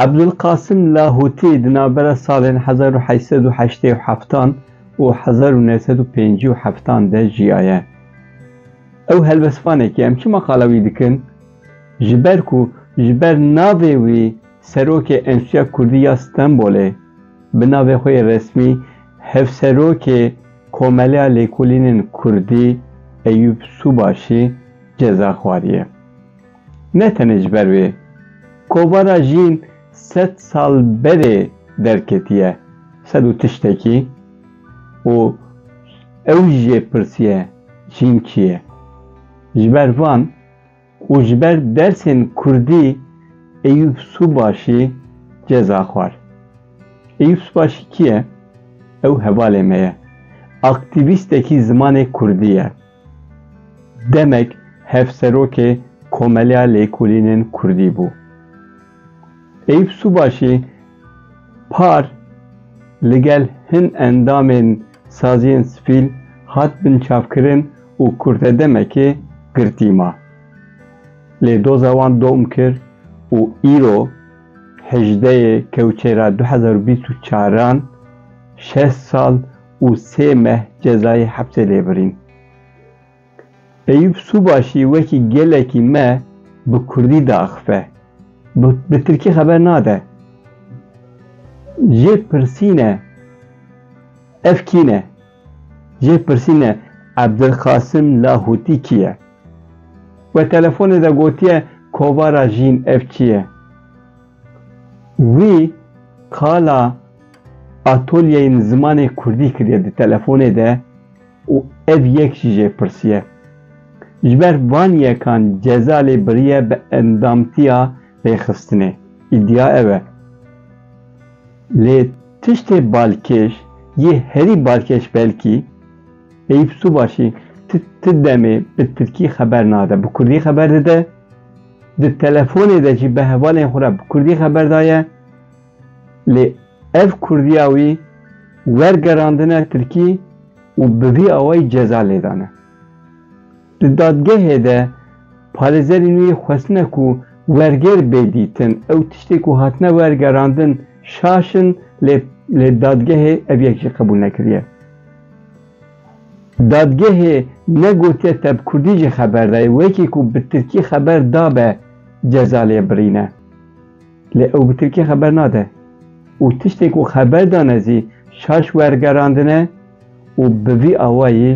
Ebdulqasim Lahûtî di navbera salên hezar û heşt sed û heştê û heftan û hezar û neh sed û pêncî û heftan de jiyaye. Ew helbestvanekî em çima qala wî dikin? Ji ber ku ji ber navê wî Serokê Enstîtuya Kurdî ya Stenbolê bi navê xwe yê resmî Hevserokê Komeleya Lêkolînên Kurdî Eyûb Sûbaşî ceza xwariye. Ne tenê ji ber wê kovara jîn sed sal berê derketiye sed û tiştekî û ew jê pirsiye jîn kî ye? Ji ber van, û ji ber dersên kurdî Eyûp Subaşî ceza xwar. Eyûp Subaşî kî ye? Ew hevalê me ye. Aktîvîstekî zimanê kurdî ye. Demek hevserokê Komeleya Lêkolînên Kurdî bû. Eyûp Sûbaşî par ligel hin endamên saziyên sivîl hat binçavkirin û kurte demekê girtî ma. Lê doza wan dom kir û îro hejdeyê kewçera du hezar û bîst û çar an şeş sal û sê meh cezayê hepsê lê birîn. Eyûp Sûbaşî wekî gelekî me bi kurdî diaxife, bi tirkî xeber nade. Jê pirsîne ev kî ne? Jê pirsîne Ebdilqasim Lahûtî kî ye? We telefonê de gotiye kovara jîn ev kî ye? Wî qala atolyeyên zimanê kurdî kiriye di telefonê de. Û ev yek jî jê pirsiye. Ji ber van yekan ceza lê biriye bi endamtiya rêxistinê. Îdia ev e. Lê tiştê balkêş yê herî balkêş belkî, Eyûp Sûbaşî ti demê bi tirkî xeber nade, bi kurdî xeber dide, di telefonê de jî bi hevalên xwe re bi kurdî xeber daye. Lê ev Kurdiya wî wergerandine Tirkî û bi vî awayî ceza lêdane. Di dadgehê de parêzerên wî xwestine ku wergêr bê dîtin. Ew tiştê ku hatine wergerandin şaş in lê lê dadgehê ev yek jî qebûl nekiriye. Dadgehê ne gotiye te bi Kurdî jî xeber dayê, wekî ku bi Tirkî xeber dabe ceza lê birîne. Lê ew bi Tirkî xeber nade û tiştên ku xeber dane zî şaş wergerandine û bi vî awayî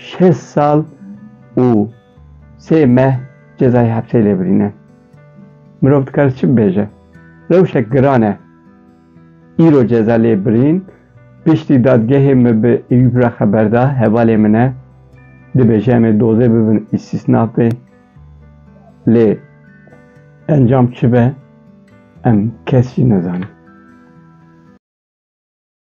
şêst sal û sê meh cezayê hepsê lê birîne. Mirov dikare çi bibêje? Rewşek giran e. Îro ceza lê birîn, piştî dadgehê min bi Eyûp re xeber da, hevalê min e. Dibêje em ê dozê bibin îstîsnafê. Lê encam çi be em kes jî nizanin.